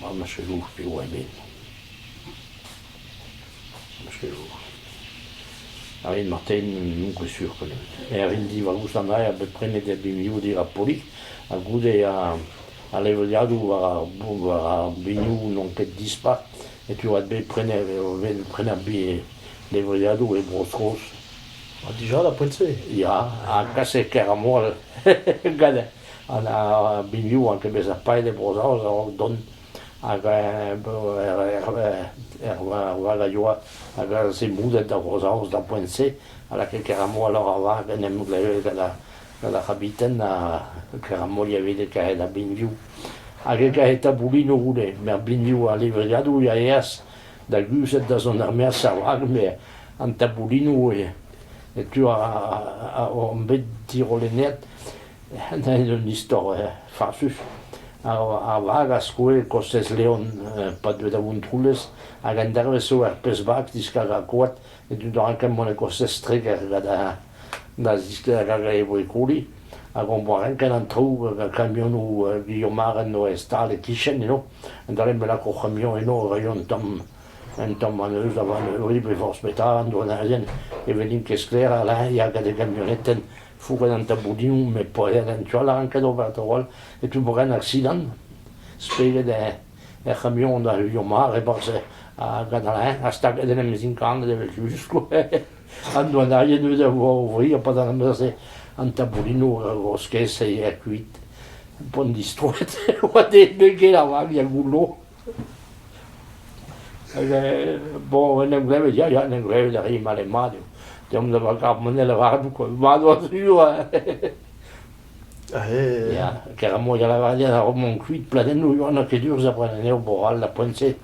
Ma machaloù eo a bed. Machaloù. A rin marteze n'on ket sur penaos. Erin divarrus an aer bet prenet er binvioù-dir ha Polig ha goude ar levriadoù war ar war ar binioù n'on ket dispar setu oa bet prenet prenet levriadoù e Bro-Skos. Ha dija da poent-se? Ya, ha kaset Keramoal ganin. An binvioù a ginnig bezañ paeet e Bro-Saoz a-raok dont hag erval a yoa a galse moulet da Vro-Saoz d'ar poent-se a lakae Keramolor ar vag en em glevet gant ar c'habiten ha Keramol evit e karet ar binvioù. Hag e kae taboulinoù goude. Met ar binvioù ar livriadoù a eas da guzhat da zont er-maez ar vag met an taboulinoù e tu on bet dirollennet un istor farsus. Ar vag a skoe kostez Leon pa deue da Vontroulez hag an dervezh eo er pezh vag diskar ar goad e dud a ra kemmoù kostez Treger hag e voe koli. Hag on boa renket an traoù hag ar kamionoù Guillaume Mare en doa stal e-kichen eno a-dal em lak hor c'hamion eno e raio un tamm un tamm anezho da vont eu e forzh petra an douarnerien ne vennint ket sklaer a-leñv ya gant e gamionetenn Fourren an taboudinoù met poellek en tu all a rank ober tro-all etu bourren aksidant spered er c'hamion a heuilho mat e-barzh ar gadalain ha staget en em zinkanet evel just an douanaien eus a vo o vri ha padal am eus an taboudinoù o skes e kuit pont distroet oa deet bet get ar vag er goullo Bon, en em glevet, ya, ya, en em glevet a ri male-mat eo. Deomp da varc'h-mone lavaret kwa, mat oa sur Ya, keramoz a lavaret a-raok mont kuit, pladennoù Yoann ket urz après an eo Boral, la Pointe,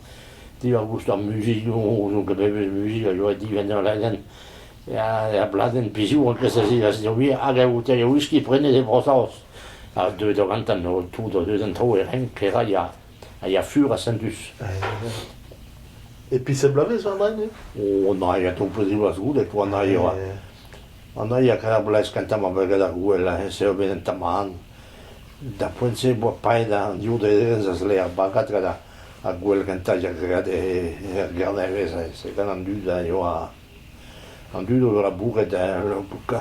diwar goust ar muzik, n'on ket bevez muzik, a joa divenn ur ladenn, ya, bladenn pizoù, an kres a zivasdiobi, hag a oute e whisky prenet e Brosaos. Ha deuet o gantan, tout o deus an tro e renk, kera ya. a ya fur ha sentus. E pisep bloavezh war nain eo? O, na, ya tomploù ziwazh goude po an ail oa. An ail a kaver bloavezh kentañ ma voe gant ar gouel, ha heñ sevel en tamann. D'ar poent-se e boa paeet an div daerez a zle ar bagad gant ar- ar gouel gentañ a graet he- er gernevezh. Se gant an dud a yoa an dud o vezañ bourret heñ ur pouka.